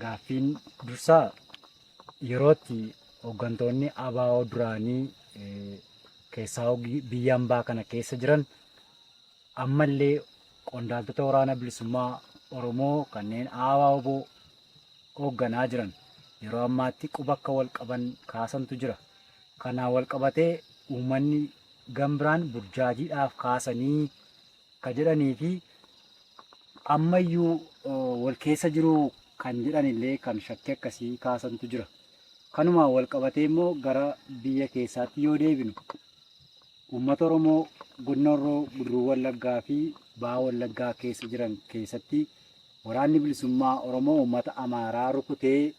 Gaaffiin dursaa yerootti hooggantoonni ABO duraanii keessaa biyya ambaa kana keessa jiran ammallee qondaaltota waraana bilisummaa Oromoo kanneen ABO hoogganaa jiran yeroo ammaatti quba akka wal qaban kaasantu jira. Kanaan wal qabatee uummanni gama biraan burjaajiidhaaf kaasanii ka jedhanii fi ammayyuu wal keessa jiru kan jedhanillee kan shakkii akkasii kaasantu jira. Kanumaan wal qabatee immoo gara biyya keessaatti yoo deebinu uummata Oromoo godina Horroo Guduruu Wallaggaa fi Baha Wallaggaa keessa jiran keessatti waraanni bilisummaa Oromoo uummata Amaaraa rukutee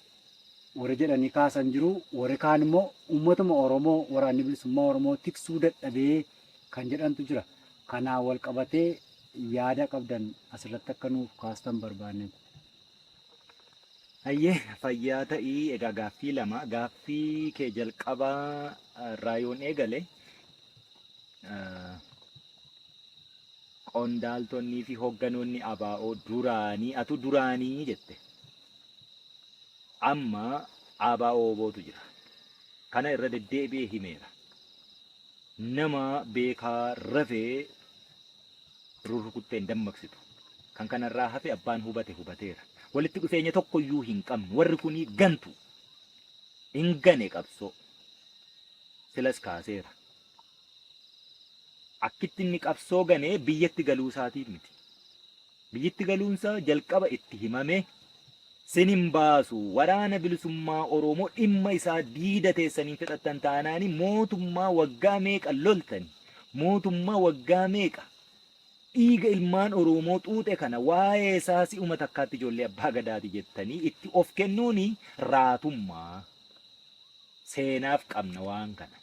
warri jedhanii kaasan jiru. Warri kaan immoo uummatuma Oromoo waraanni bilisummaa Oromoo tiksuu dadhabee kan jedhantu jira. Kanaan walqabatee yaada qabdan asirratti akka nuuf kaastan barbaanne. Hayyee fayyaa ta'ii egaa gaaffii lama gaaffii kee jalqabaa irraa yoon eegale qondaaltonnii fi hogganoonni abaa'oo duraanii atu duraanii jette amma abaa'oo obootu jira kana irra deddeebi'ee himeera nama beekaa rafe rurrukuttee hin dammaqsitu. Kan kanarraa hafe abbaan hubate hubateera. Walitti dhufeenya tokkoyyuu hin qabnu. Warri kunii gantu. Hin gane qabsoo. Silas kaaseera. Akkitti inni qabsoo ganee biyyatti galuu isaatiif miti. Biyyitti galuunsaa jalqaba itti himame sin hin baasu waraana bilisummaa oroomoo dhimma isaa diida teessan hin fixattan taanaani mootummaa waggaa meeqa loltani mootummaa waggaa meeqa dhiiga ilmaan oroomoo xuuxe kana waa'ee isaa si'uma takkaatti ijoollee abbaa gadaati jettanii itti of kennuuni raatummaa seenaaf qabna waan kana.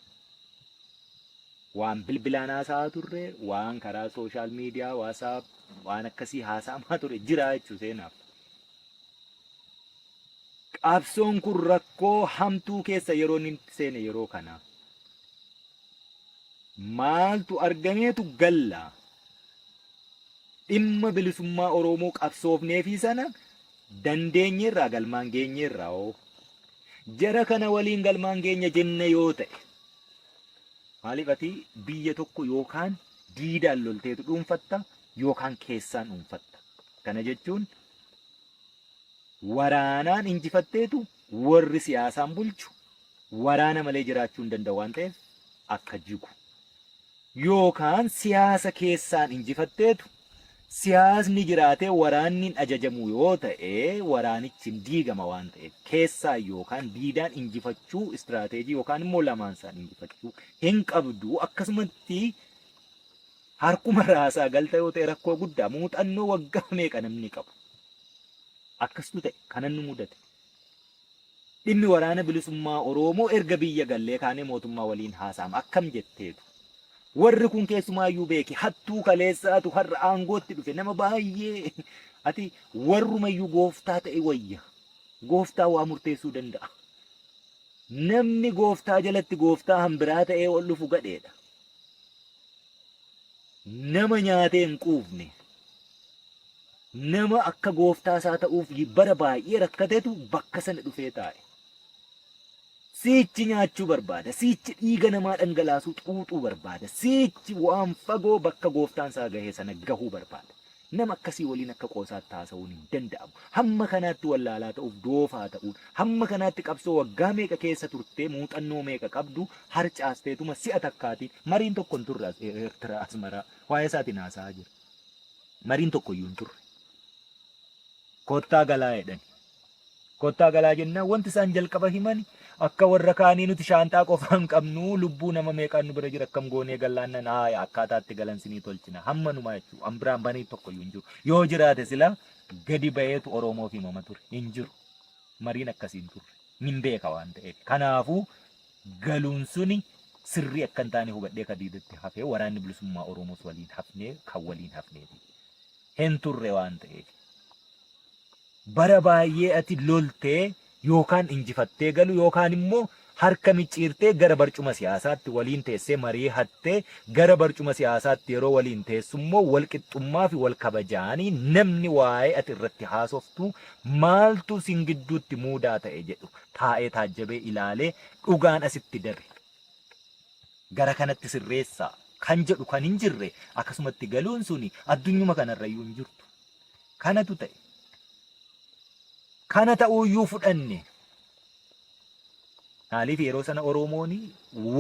waan bilbilaan haasa'aa turre, waan karaa sooshaal miidiyaa, waasaap, waan akkasii haasa'amaa ture jira jechuu seenaaf. Qabsoon kun rakkoo hamtuu keessa yeroo inni itti seene yeroo kana. Maaltu argameetu galla? Dhimma bilisummaa Oromoo qabsoofneefii sana dandeenyeerraa galmaan geenyeerraa hoo? Jara kana waliin galmaan geenya jenna yoo ta'e, Maaliif ati biyya tokko yookaan diidaan lolteetu dhuunfatta yookaan keessaan dhuunfatta. Kana jechuun waraanaan injifatteetu warri siyaasaan bulchu waraana malee jiraachuu hin danda'u waan ta'eef akka jigu. Yookaan siyaasa keessaan injifatteetu Siyaasni jiraatee waraanni hin ajajamu yoo ta'e waraanichi hin diigama waan ta'eef keessaan yookaan diidaan injifachuu istiraateejii yookaan immoo lamaansaan injifachuu hin qabdu akkasumatti harkuma raasaa galta yoo ta'e rakkoo guddaa muuxannoo waggaa meeqa namni qabu akkasitu ta'e kanan nu mudate. Dhimmi waraana bilisummaa Oroomoo erga biyya gallee kaanee mootummaa waliin haasa'ama akkam jetteetu. Warri kun keessumaayyuu beeki hattuu kaleessaatu har'a aangootti dhufe nama baay'ee ati warrumayyuu gooftaa ta'e wayya. Gooftaa waa murteessuu danda'a. Namni gooftaa jalatti gooftaa hanbiraa ta'ee ol dhufu gadheedha. nama nyaatee hin quufne, nama akka gooftaa isaa ta'uuf bara baay'ee rakkatetu bakka sana dhufee taa'e. Siichi nyaachuu barbaada, siichi dhiiga namaa dhangalaasuu xuuxuu barbaada, siichi waan fagoo bakka gooftaan isaa gahee sana gahuu barbaada. Nama akkasii waliin akka qoosaatti haasa'uun hin danda'amu. Hamma kanaatti wallaalaa ta'uuf doofaa ta'uun, hamma kanaatti qabsoo waggaa meeqa keessa turtee muuxannoo meeqa qabdu harcaasteetuma si'a takkaatii mariin tokko hin turre as Eertiraa Asmaraa waa'ee isaatiin haasa'aa jira. Mariin tokkoyyuu hin turre. Kottaa galaa jedhani. Kottaa galaa jennaan wanti isaan jalqaba himani akka warra kaanii nuti shaanxaa qofaa hin qabnu lubbuu nama meeqaan nu bira jira akkam goonee gallaannan haaya akkaataa itti galan sinii tolchina hamma numaa jechuu an biraan banii tokkoyyuu hin jiru yoo jiraate silaa gadi ba'eetu oromoof himama ture hin jiru mariin akkasii hin turre nin beeka waan ta'eef kanaafuu galuun suni sirrii akka hin taane hubadhee ka diidatti hafee waraanni bilisummaa oromoos waliin hafnee kan waliin hafneeti. hin turre waan ta'eef. Bara baay'ee ati loltee yookaan injifattee galu yookaan immoo harka micciirtee gara barcuma siyaasaatti waliin teessee marii hattee gara barcuma siyaasaatti yeroo waliin teessu immoo wal qixxummaa fi wal kabajaanii namni waa'ee ati irratti haasoftu maaltu sin gidduutti muudaa ta'e jedhu taa'ee taajjabee ilaalee dhugaan asitti dabe. gara kanatti sirreessaa kan jedhu kan hin jirre akkasumatti galuun suni addunyuma kanarrayyuu hin jirtu. Kanatu ta'e. Kana ta'uuyyuu fudhanne. Maaliif yeroo sana Oromoon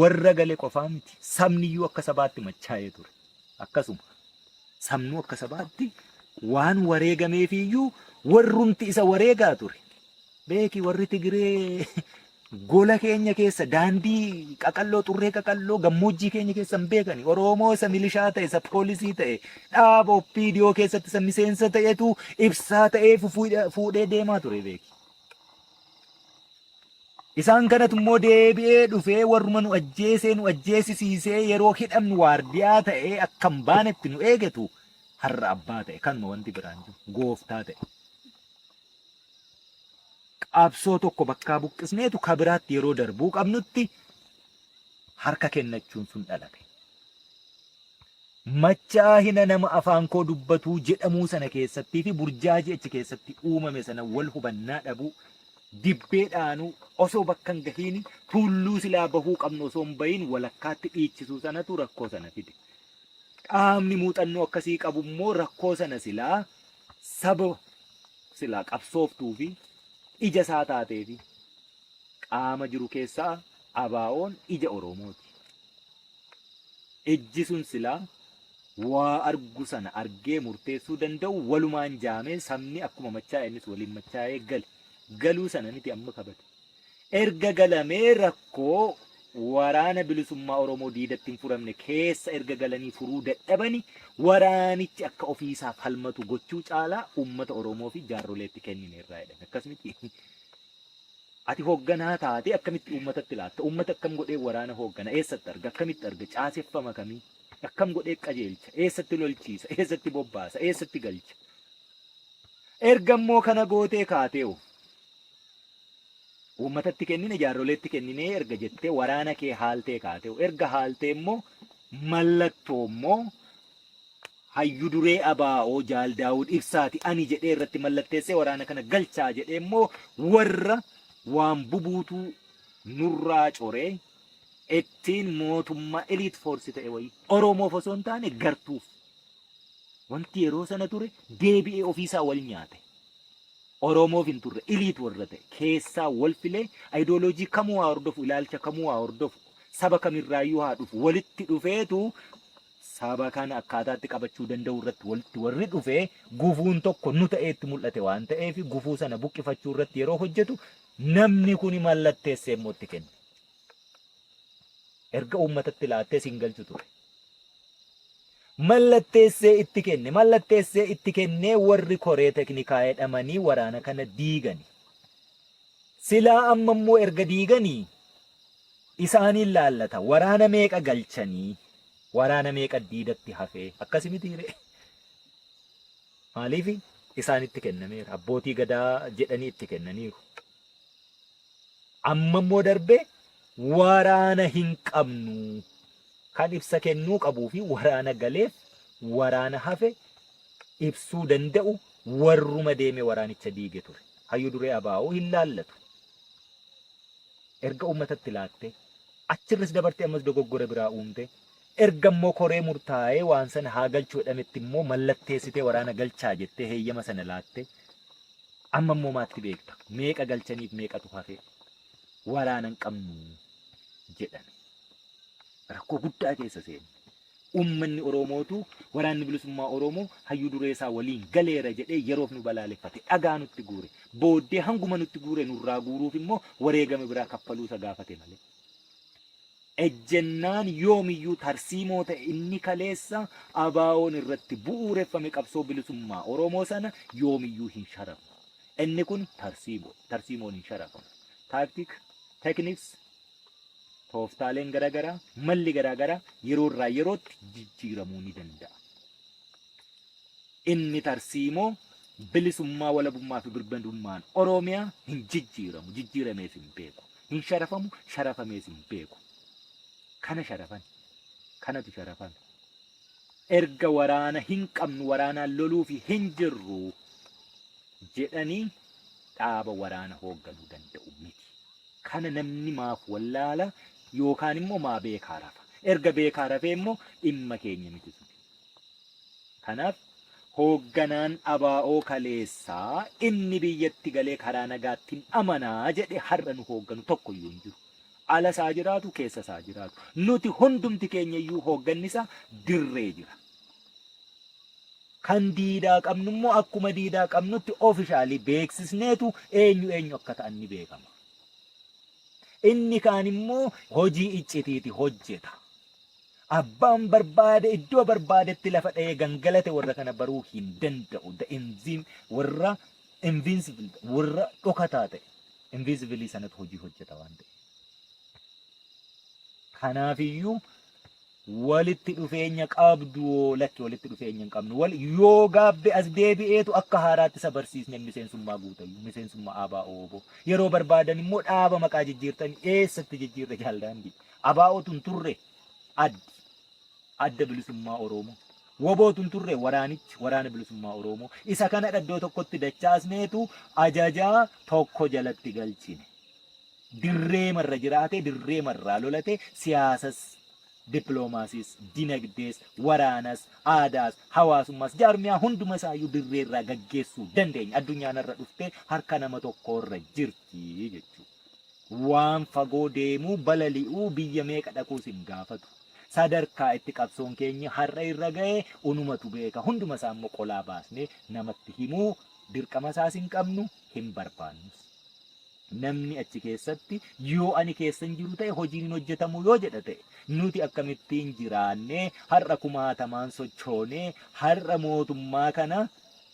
warra gale qofaa miti. Sabniyyuu akka sabaatti machaa'ee ture. Akkasuma sabnuu akka sabaatti waan wareegameefiyyuu warrumti isa wareegaa ture. Beeki warri Tigiree Gola keenya keessa daandii qaqalloo xurree qaqalloo gammoojjii keenya keessa hin beekani. Oromoo isa milishaa ta'e isa poolisii ta'e dhaaba oppiidiyoo keessatti isa miseensa ta'etu ibsaa ta'ee fufuudha- fuudhee deemaa ture beeki. Isaan kanatu immoo deebi'ee dhufee warruma nu ajjeesee nu ajjeesisiisee yeroo hidhamnu waardiyaa ta'ee akka hin baanetti nu eegetu har'a abbaa ta'e kanuma wanti biraan jiru gooftaa ta'e. qabsoo tokko bakkaa buqqisneetu ka biraatti yeroo darbuu qabnutti harka kennachuun sun dhalate. Machaahina nama afaan koo dubbatuu jedhamuu sana keessattii fi burjaajii achi keessatti uumame sana wal hubannaa dhabuu, dibbee dhaanuu, osoo bakka hin gahiin tuulluu silaa bahuu qabnu osoo hin bahiin walakkaatti dhiichisuu sanatu rakkoo sana fide. Qaamni muuxannoo akkasii qabu immoo rakkoo sana silaa Saba silaa qabsooftuu fi ija isaa taatee fi qaama jiru keessaa ABOn ija Oromooti. Ijji sun silaa waa argu sana argee murteessuu danda'u walumaan jaamee sabni akkuma machaa'e innis waliin machaa'ee gale. Galuu sana miti amma kabate. erga galamee rakkoo Waraana Bilisummaa Oromoo diidatti hin furamne keessa erga galanii furuu dadhabani waraanichi akka ofiisaa falmatu gochuu caalaa uummata Oromoo fi jaarroleetti kennineerraa jedhan. Akkas miti. Ati hoogganaa taatee akkamitti uummatatti laatta? Uummata akkam godhee waraana hooggana? Eessatti arga? Akkamitti arga? Caaseffama kamii? Akkam godhee qajeelcha? Eessatti lolchiisa? Eessatti bobbaasa? Eessatti galcha? Erga immoo kana gootee kaatee hoo? Uummatatti kennine, jaarroleetti kenninee erga jettee waraana kee haaltee kaatee erga haaltee immoo mallattoo immoo hayyu duree ABO Jaal Daawud Ibsaati ani jedhee irratti mallatteessee waraana kana galchaa jedhee immoo warra waan bubuutuu nurraa coree ittiin mootummaa elite force ta'e wayii Oromoof osoo hin taane gartuuf wanti yeroo sana ture deebi'ee ofiisaa wal nyaate. Oromoof hin turre, elite warra ta'e, keessaa wal filee, ideology kamuu haa hordofu, ilaalcha kamuu haa hordofu, saba kam irraayyuu haa dhufu, walitti dhufeetu saba kana akkaataa itti qabachuu danda'u irratti walitti warri dhufe gufuun tokko nu ta'ee itti mul'ate waan ta'eef gufuu sana buqqifachuu irratti yeroo hojjetu namni kuni mallatteessee immoo itti kenne. Erga uummatatti laattee siin galchu ture. mallatteessee itti kenne mallatteessee itti kennee warri koree teknikaa jedhamanii waraana kana diigani. Silaa amma immoo erga diiganii isaaniin laallata waraana meeqa galchanii waraana meeqa diidatti hafee akkasi mitiire maaliif isaanitti kennameera abbootii gadaa jedhanii itti kennaniiru. Amma immoo darbee waraana hin qabnu. Kan ibsa kennuu qabuu fi waraana galeef waraana hafe ibsuu danda'u warruma deeme waraanicha diige ture. Hayyu duree abaa'oo hin laallatu. Erga uummatatti laattee achirras dabartee ammas dogoggora biraa uumtee Erga immoo koree murtaa'ee waan sana haa galchu jedhametti immoo mallatteessitee waraana galchaa jettee heeyyama sana laatte amma immoo maatti beekta meeqa galchaniif meeqatu hafe waraana hin qabnu jedhame rakkoo guddaa keessa seene. Uummanni Oromootu waraanni bilisummaa Oromoo hayyuu duree isaa waliin galeera jedhee yeroof nu balaaleffate dhagaa nutti guure booddee hanguma nutti guure nurraa guuruuf immoo wareegama biraa kaffaluu isa gaafate malee. Ejjennaan yoomiyyuu tarsiimoo ta'e inni kaleessa ABOn irratti bu'uureffame qabsoo bilisummaa Oromoo sana yoomiyyuu hin sharafu. Inni kun tarsiimoo dha. Tarsiimoon hin sharafamu. Tactic, techniques, tooftaaleen garaagaraa, malli garaagaraa yeroo irraa yerootti jijjiiramuu ni danda'a. Inni tarsiimoo bilisummaa, walabummaa fi birmadummaan Oromiyaa hin jijjiiramu, jijjiiramees hin beeku. Hin sharafamu, sharafamees hin beeku. Kana sharafani. Kanatu sharafame. Erga waraana hin qabnu waraanaan loluufi hin jirru jedhanii dhaaba waraana hoogganuu danda'u miti. Kana namni maaf wallaala yookaan immoo maa beekaa rafa. Erga beekaa rafee immoo dhimma keenya miti suni. Kanaaf hoogganaan ABO kaleessaa inni biyyatti galee karaa nagaattin amana jedhe har'a nu hoogganu tokko iyyuu hin jiru. Alas haa jiraatu keessas haa jiraatu. Nuti hundumti keenya iyyuu hoogganni isaa dirree jira. Kan diidaa qabnu immoo akkuma diidaa qabnutti officially beeksisneetu eenyu eenyu akka ta'an ni beekama. Inni kaan immoo hojii iccitiiti hojjeta. Abbaan barbaade iddoo barbaadetti lafa dha'ee gangalate warra kana baruu hin danda'u. The enzyme warra invincible ta'e, warra dhokataa ta'e, invisibilii sanatu hojii hojjeta waan ta'e. Kanaafiyyuu walitti dhufeenya qabdu hoo lakki walitti dhufeenya hin qabnu. Wal yoo gaabbe as deebi'eetu akka haaraatti isa barsiisne miseensummaa guutayyu miseensummaa ABO yeroo barbaadan immoo dhaaba maqaa jijjiirtanii eessatti jijjiirre jaaldaandii. ABOtu hin turre addi adda bilisummaa Oroomoo. Wobootu hin turre waraanichi waraana bilisummaa Oroomoo. Isa kanadha iddoo tokkotti dachaasneetu ajajaa tokko jalatti galchine. Dirree marra jiraatee dirree marraa lolate siyaasas dippiloomaasiis, dinagdees, waraanas, aadaas, hawaasummaas, jaarmiyaa hunduma isaayyuu dirree irraa gaggeessuu dandeenya. Addunyaan har'a dhuftee harka nama tokkoorra jirti jechuudha. Waan fagoo deemuu, balali'uu, biyya meeqa dhaquu sin gaafatu. Sadarkaa itti qabsoon keenyi har'a irra gahe unumatu beeka. Hunduma isaa immoo qolaa baasnee namatti himuu dirqama isaas hin qabnu, hin barbaannus. Namni achi keessatti yoo ani keessa hin jiru ta'e hojiin hin hojjetamu yoo jedha ta'e nuti akkamittiin jiraannee har'a kumaatamaan sochoonee har'a mootummaa kana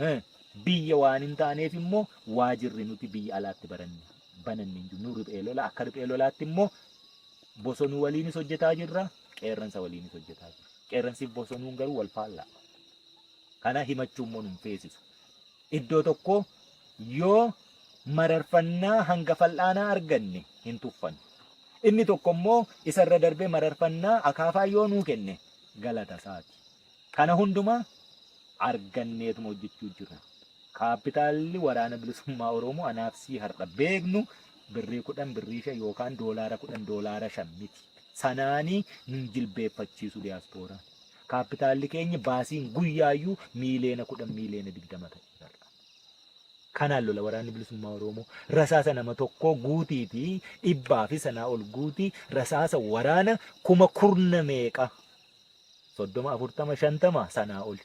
Hee, biyya waan hin taaneef immoo waajirri nuti biyya alaatti baranne bananne hin jiru. Nu riphee lola akka riphee lolaatti immoo bosonuu waliinis hojjetaa jirra, qeerransa waliinis hojjetaa jirra. Qeerransiif bosonuun garuu wal faallaa. Kana himachuu immoo nun feesisu. Iddoo tokko yoo mararfannaa hanga fal'aanaa arganne hin tuffannu. Inni tokko immoo isarra darbee mararfannaa akaafaa yoo nuu kenne galata isaati. Kana hundumaa arganneetuma hojjechuu jirra. Kaappitaalli Waraana Bilisummaa Oromoo anaaf sii har'a beeknu birrii kudhan, birrii shan yookaan doolaara kudhan, doolaara shan miti. Sanaanii nun jilbeeffachiisu diyaaspooraan. Kaappitaalli keenya baasiin guyyaayyuu miiliyoona kudhan, miiliyoona digdama ta'eera har'a. Kanaan lola Waraanni Bilisummaa Oromoo. Rasaasa nama tokkoo guutiitii dhibbaa fi sanaa ol guutii rasaasa waraana kuma kurna meeqa soddoma, afurtama, shantama sanaa oli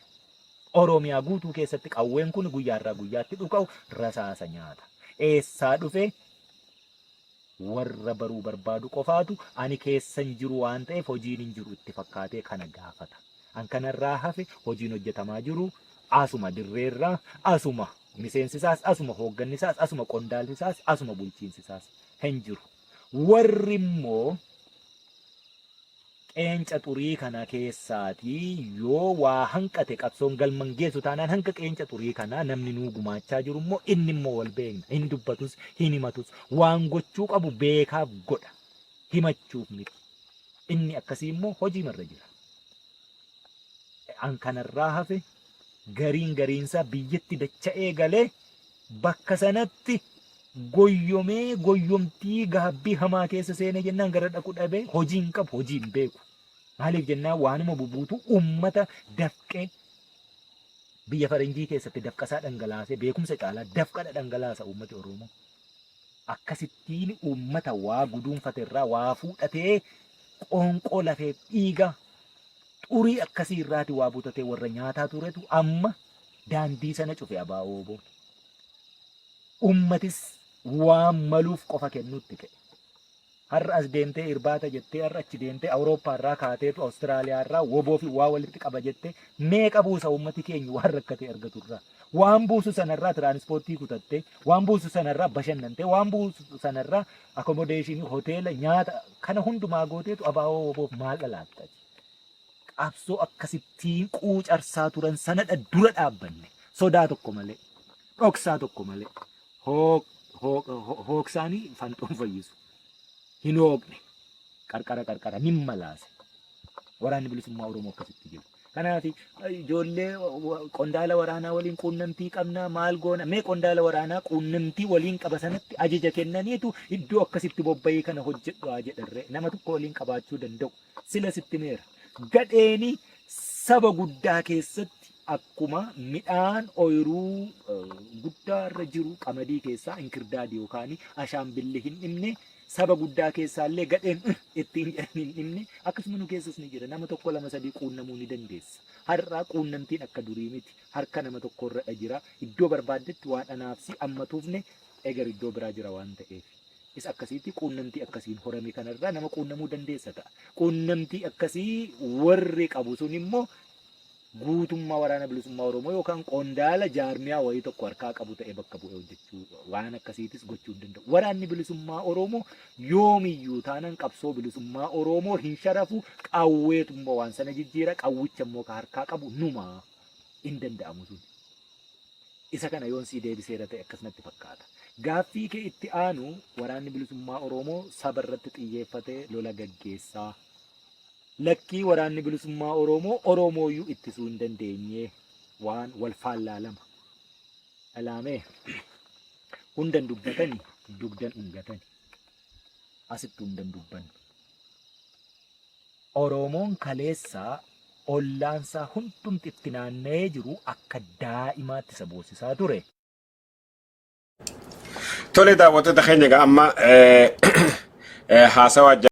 Oromiyaa guutuu keessatti qawween kun guyyaarraa guyyaatti dhuka'u rasaasa nyaata. Eessaa dhufee warra baruu barbaadu qofaatu ani keessa hin jiru waan ta'eef hojiin hin jiru itti fakkaatee kana gaafata. An kanarraa hafe hojiin hojjetamaa jiru asuma dirreerraa asuma miseensisaas asuma hooggannisaas asuma qondaalsisaas asuma bulchiinsisaas hin jiru. Warri immoo qeenca xurii kana keessaatii yoo waa hanqate qabsoon galma hin geessu taanaan hanga qeenca xurii kanaa namni nuu gumaachaa jiru immoo inni immoo wal beekna hin dubbatus hin himatus waan gochuu qabu beekaaf godha himachuuf miti inni akkasii immoo hojii marra jira an kanarraa hafe gariin gariinsaa biyyatti dacha'ee galee bakka sanatti goyyomee goyyomtii gaabbii hamaa keessa seenee jennaan gara dhaqu dhabee hojii hin qabu hojii hin beeku. Maaliif jennaan waanuma bubuutu uummata dafqee biyya faranjii keessatti dafqasaa dhangalaasee beekumsa caalaa dafqadha dhangalaasa uummati Oromoo. Akkasittiin uummata waa guduunfate irraa waa fuudhatee qoonqoo lafee dhiiga Xurii akkasii irraati waa butatee warra nyaataa turetu amma daandii sana cufe abaa'oo oboo. Ummatis waan maluuf qofa kennuutti ka'e. Har'a as deemtee irbaata jettee har'a achi deemtee Awurooppaa irraa kaateetu Awustiraaliyaa irraa woboo fi waa walitti qaba jettee meeqa buusa ummati keenya waan rakkatee argatu irraa. Waan buusu sanarraa tiraanispoortii kutattee, waan buusu sanarraa bashannantee, waan buusu sanarraa akomodeeshinii, hoteela, nyaata kana hundumaa gooteetu abaa'oo woboof maal dhalaattati? qabsoo akkasittiin quucarsaa turan sanadha dura dhaabbanne sodaa tokko malee dhoksaa tokko malee hoog hoog ho- hoogsaanii fanxoon fayyisu hin hoogne qarqara qarqara nin malaase waraanni bilisummaa oromoo akkasitti jiru. Kanaaf ijoollee wa- qondaala waraanaa waliin quunnamtii qabnaa maal goona mee qondaala waraanaa quunnamtii waliin qaba sanatti ajaja kennaniitu iddoo akkasitti bobba'ee kana hojjedhu haa jedharree nama tokko waliin qabaachuu danda'u. Sila sitti himeera. Gadheeni saba guddaa keessatti akkuma midhaan ooyiruu eh, guddaa irra jiru qamadii keessaa inkirdaadi yookaan ashaanbilli hin dhimne saba guddaa keessaallee gadheen "Ugh" ittiin jedhan hin dhimne akkasuma nu keessas ni jira nama tokko lama sadii quunnamuu ni dandeessa. Har'aa quunnamtiin akka durii miti harka nama tokko irradha jira iddoo barbaaddetti waa dhanaafsi amma tuufne eger iddoo biraa jira waan ta'eef. is akkasiitti quunnamtii akkasiin horame kanarraa nama quunnamuu dandeessa ta'a. Quunnamtii akkasii warri qabu sun immoo guutummaa waraana bilisummaa Oromoo yookaan qondaala jaarmiyaa wayii tokko harkaa qabu ta'e bakka bu'ee hojjechuu waan akkasiitis gochuu hin danda'u. Waraanni bilisummaa Oromoo yoomiyyuu taanaan qabsoo bilisummaa Oromoo hin sharafu qawweetu immoo waan sana jijjiira qawwicha immoo ka harkaa qabu numa hin danda'amu sun. Isa kana yoon sii deebiseera ta'e akkas natti fakkaata. Gaaffii kee itti aanu Waraanni Bilisummaa Oromoo saba irratti xiyyeeffatee lola gaggeessaa? Lakkii Waraanni Bilisummaa Oromoo Oromooyyuu ittisuu hin dandeenyee waan wal faallaa lama dhalaamee hundan dubbatani dugdan dhungatani asitti hundan dubbannu. Oroomoon kaleessa ollaansaa hundumti itti naanna'ee jiru akka daa'imaatti isa boosisaa ture. Tole daawwattoota keenya egaa amma eh, eh, haasawaa